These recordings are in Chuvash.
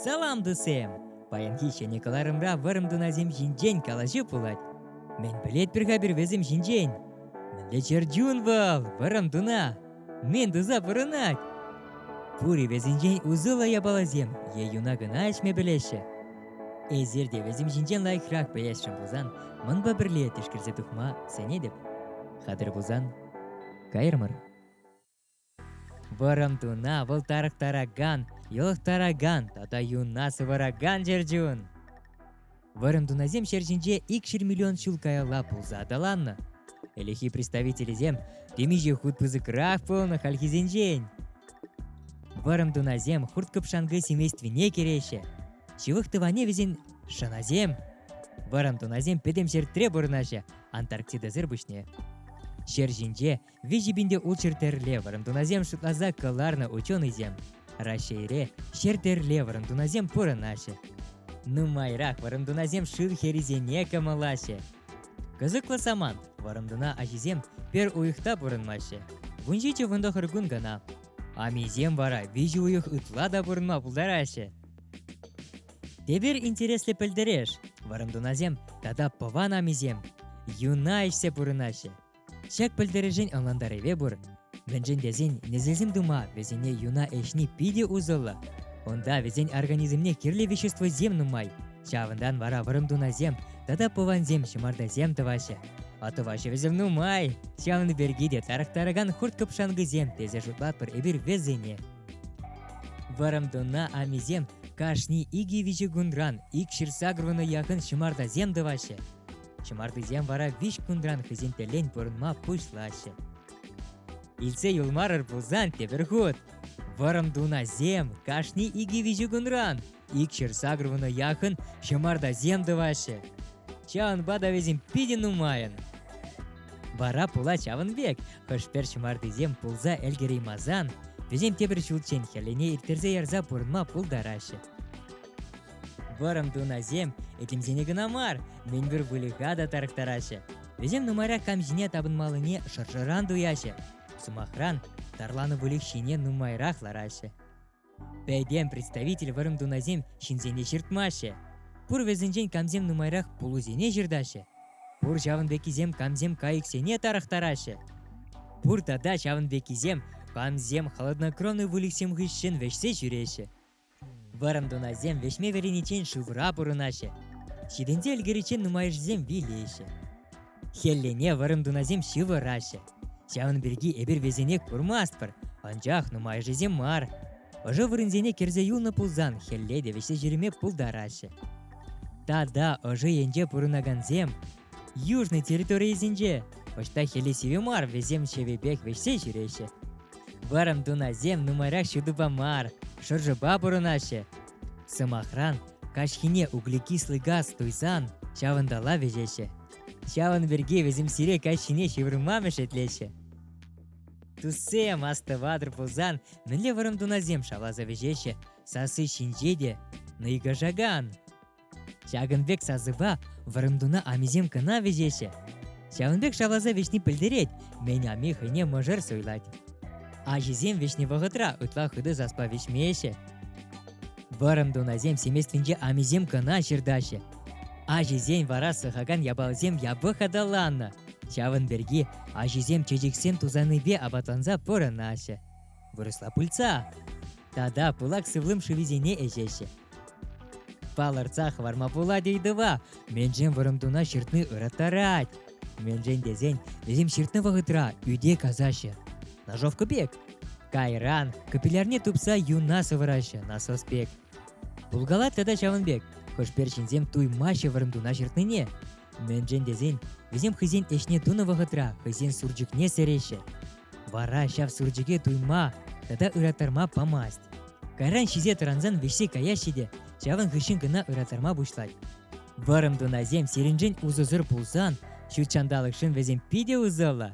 Салам, тусем! Паянхи ҫӗнӗ кӑларӑмра вӑрӑм тунасем ҫинчен калаҫу пулать. Мӗн пӗлетпӗр-ха пирвесем ҫинчен? Мӗнле чӗр чун вӑл, вӑрӑм туна! Мӗн туса пурӑнать? Пур-и вӗсенчен усӑллӑ япаласем е юна кӑна ӗҫме пӗлеҫҫӗ? Эсир те вӗсем ҫинчен лайӑхрах пӗлесшӗн пулсан, манпа пӗрле тишкерсе тухма сӗнетӗп. Хатӑр пулсан, кайрӑмӑр. Вӑрӑм туна вӑлтарӑхтаракан, йӑлӑхтаракан тата юна сываракан чӗрчун. Вӑрӑм тунасем ҫӗр ҫинче ик ҫыр миллион ҫул каялла пулса аталаннӑ. Ӗлӗххи представителӗсем темиҫе хут пысӑкрах пулнӑ хальхисенчен. Вӑрӑм тунасем хурт-кӑпшанкӑ семействине кӗреҫҫӗ. Ҫывӑх тӑванне вӗсен шӑнасем. Вӑрӑм тунасем пӗтӗм ҫӗртре пурӑнаҫҫӗ Антарктидӑсӑр пуҫне. Ҫӗр ҫинче Виҫӗ пин те ултҫӗр тӗрле вӑрӑмтунасем шутласа кӑларнӑ ученӑйсем. Раҫҫейре ҫӗр тӗрле вӑрӑмтунасем пурӑнаҫҫӗ. Нумайрах вӑрӑмтунасем шыв хӗрисене кӑмӑлаҫҫӗ. Кӑсӑклӑ самант, вӑрӑмтуна аҫисем пӗр уйӑхта пурӑнмаҫҫӗ. Вун ҫичӗ вунтӑхӑр кун кӑна. Амисем вара виҫӗ уйӑх ытла та пурӑнма пултараҫҫӗ. Тепер интереслӗ пӗлтереш, вӑрӑмтунасем тата пӑван амисем юна ӗҫсе пурӑнаҫҫӗ. Ҫак пӗлтерӗшен ӑнлантарӑвӗ пур. Мӗншӗн тесен несӗлсем тума вӗсене юна ӗҫни питӗ усӑллӑ. Унта вӗсен организмне кирлӗ веществосем нумай. Ҫавӑнтан вара вӑрӑм тунасем тата пӑвансем ҫӑмартасем тӑваҫҫӗ. А тӑваҫҫӗ нумай. Ҫавӑн пирки те тарӑхтаракан хурт-кӑпшанкӑсем тесе шутлатпӑр эпир вӗсене. Вӑрӑм туна амисем кашни икӗ виҫӗ кунран ик ҫырса курнӑ яхӑн ҫӑмартасем тӑваҫҫӗ. Ҫӑмартисем вара виҫ кунран хӑйсен тӗлен пурӑнма пуҫлаҫҫӗ. Илсе юлмарӑр пулсан тепӗр хут. Вӑрӑм тунасем кашни икӗ-виҫӗ кунран икҫӗр сакӑрвунӑ яхӑн ҫӑмартасем тӑваҫҫӗ. Ҫавӑнпа та вӗсем питӗ нумайӑн. Вара пула ҫавӑн пек хӑш-пӗр ҫӑмартисем пулса ӗлкӗреймасан вӗсем тепӗр ҫулччен хӗллене ирттерсе ярса пурӑнма пултараҫҫӗ. Вӑрӑм тунасем этемсене кӑна мар, мӗнпур выльӑха та тарӑхтараҫҫӗ. Вӗсем нумайра кам ҫине тапӑнмаллине шӑршӑран туяҫҫӗ. Сӑмахран, тарланӑ выльӑх ҫине нумайрах лараҫҫӗ. Пӗтем представитель вӑрӑм тунасем ҫынсене ҫыртмаҫҫӗ. Пур вӗсенчен камсем нумайрах пулусене ҫыртаҫҫӗ. Пур ҫавӑн пеккисем камсем кайӑксене тарӑхтараҫҫӗ. Пур тата ҫавӑн пеккисем камсем холоднокровный выльӑхсем хыҫҫӑн вӗҫсе ҫӳреҫҫӗ. Вӑрӑм тунасем вӗҫме вӗрениччен шывра пурӑнаҫҫӗ. Ҫитӗнсе ӗлкӗриччен нумайӑшӗсем вилеҫҫӗ. Хӗллене вӑрӑм тунасем ҫывӑраҫҫӗ. Ҫавӑн пирки эпир вӗсене курмастпӑр, анчах нумайӑшӗсем мар. Ӑшӑ вырӑнсене кӗрсе юлнӑ пулсан хӗлле те вӗҫсе ҫӳреме пултараҫҫӗ. Тата ӑшӑ енче пурӑнакансем южный территорийӗсенче ӑҫта хӗле сивӗ мар вӗсем ҫевӗпех вӗҫсе ҫӳреҫҫӗ. Вӑрӑм тунасем нумайрах ҫутӑпа мар, шӑршӑпа пурӑнаҫҫӗ. Сӑмахран, каҫхине углекислый газ туйсан ҫавӑнтала вӗҫеҫҫӗ. Ҫавӑн пирки вӗсем сире каҫхине ҫывӑрма мешетлеҫҫӗ. Туссем, астӑватӑр пулсан, мӗнле вӑрӑм тунасем шавласа вӗҫеҫҫӗ, сасси ҫинче те нӑйкашакан. Ҫакӑн пек сасӑпа вӑрӑмтуна амисем кӑна вӗҫеҫҫӗ. Ҫавӑн пек шавласа вӗҫни пӗлтерет, мӗн ами хӑйне мӑшӑр суйлать. Аҫисем вӗҫнӗ вӑхӑтра ытла хытӑ саспа вӗҫмеҫҫӗ. Вӑрӑм тунасем семействинче амисем кӑна ҫыртаҫҫӗ. Аҫисен вара сӑхакан япаласем япӑх аталаннӑ. Ҫавӑн пирки аҫисем чечексем тусанипе апатланса пурӑнаҫҫӗ. вырӑсла пыльца тата пылак сывлӑм шывӗсене ӗҫеҫҫӗ. Палӑртса хӑварма пулать ыйтӑва. Меншен вӑрӑм туна ҫыртни ыраттарать. Меншен тесен вӗсем ҫыртнӑ вӑхӑтра ӳте касаҫҫӗ. Ножовка пек. Кайран капиллярне тупса юна сӑвӑраҫҫӗ насос пек. Булгалат тата ҫавӑн пек. Хӑшпер ҫынсем туймаҫҫӗ вӑрӑм туна ҫыртнине. Меншен тесен вӗсем хӑйсен ӗҫне тунӑ вӑхӑтра хӑйсен сурчӑкне сӗреҫҫӗ. Вара ҫав сурчӑке туйма тата ыраттарма памасть. Кайран ҫисе тӑрансан вӗҫсе каяҫҫӗ те ҫавӑн хыҫҫӑн кӑна ыраттарма пуҫлать. Вӑрӑм тунасем сирӗншӗн усӑсӑр пулсан, ҫут ҫанталӑкшӑн вӗсем питӗ усӑллӑ.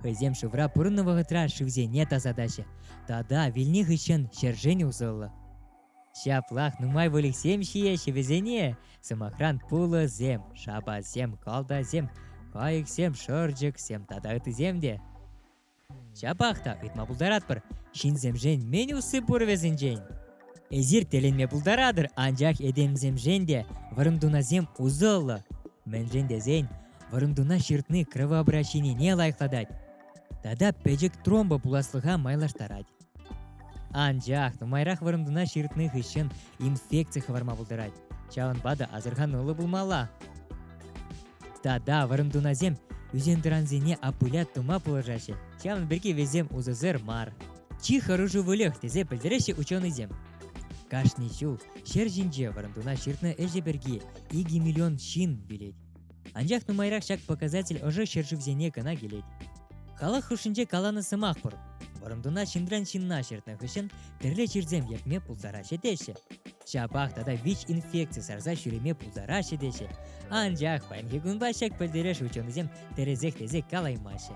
Хӑйсем шывра пурӑннӑ вӑхӑтра шывсене тасатаҫҫӗ тата вилни хыҫҫӑн ҫӗршӗн усӑллӑ. Ҫаплах нумай выльӑхсем ҫиеҫҫӗ вӗсене. Сӑмахран, пулӑсем, шапасем, калтасем, кайӑксем, шӑрчӑксем тата ыттисем те. Ҫапах та ыйтма пултаратпӑр, ҫынсемшен мӗн усси пур вӗсенчен? Эсир тӗлӗнме пултаратӑр, анчах этемсемшен те вӑрӑмтунасем усӑллӑ. Мӗншӗн тесен вӑрӑмтуна ҫыртни кровообращенине лайӑхлатать тата пӗчӗк тромба пуласлӑха майлаштарать. Анчах нумайрах вырӑнтана ҫыртнӑ хыҫҫӑн инфекци хӑварма пултарать. Ҫавӑнпа та асӑрхануллӑ пулмалла. Тата вырӑнтунасем ӳсентӑрансене аппуля тума пулӑшаҫҫӗ. Ҫавӑн пирки вӗсем усӑсӑр мар. Чи хӑрушӑ выльӑх тесе пӗлтереҫҫӗ ученӑйсем. Кашни ҫул ҫӗр ҫинче вырӑнтуна ҫыртнӑ ӗҫӗ пирки икӗ миллион ҫын билет. Анчах нумайрах ҫак показатель ӑшӑ ҫӗршывсене кӑна килет. Халӑх хушшинче каланӑ сӑмах пур. Вӑрӑмтуна ҫынран ҫынна ҫыртнӑ хыҫҫӑн тӗрлӗ чирсем ертме пултараҫҫӗ теҫҫӗ. Ҫапах тата вич инфекци сарса ҫӳреме пултараҫҫӗ теҫҫӗ. Анчах паянхи кунпа ҫак пӗлтереш ученӑйсем тӗрӗсех-тӗресех калаймаҫҫӗ.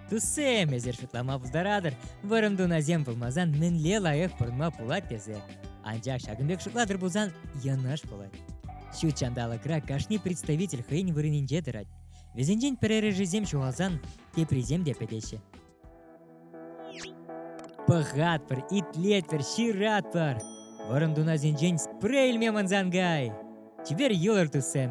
Туссем, эсир шутлама пултаратӑр, вӑрӑм тунасем пулмасан мӗнле лайӑх пурӑнма пулать тесе. Анчах ҫакӑн пек шутлатӑр пулсан йӑнӑш пулать. Ҫут ҫанталӑкра кашни представитель хӑйӗн вырӑнӗнче тӑрать. Вӗсенчен пӗрерӗшӗсем ҫухалсан теприсем те пӗтеҫҫӗ. Пӑхатпӑр, итлетпӗр, ҫыратпӑр! Вӑрӑм тунасенчен спрей илме мӑнсан кай! Чипер юлӑр туссем!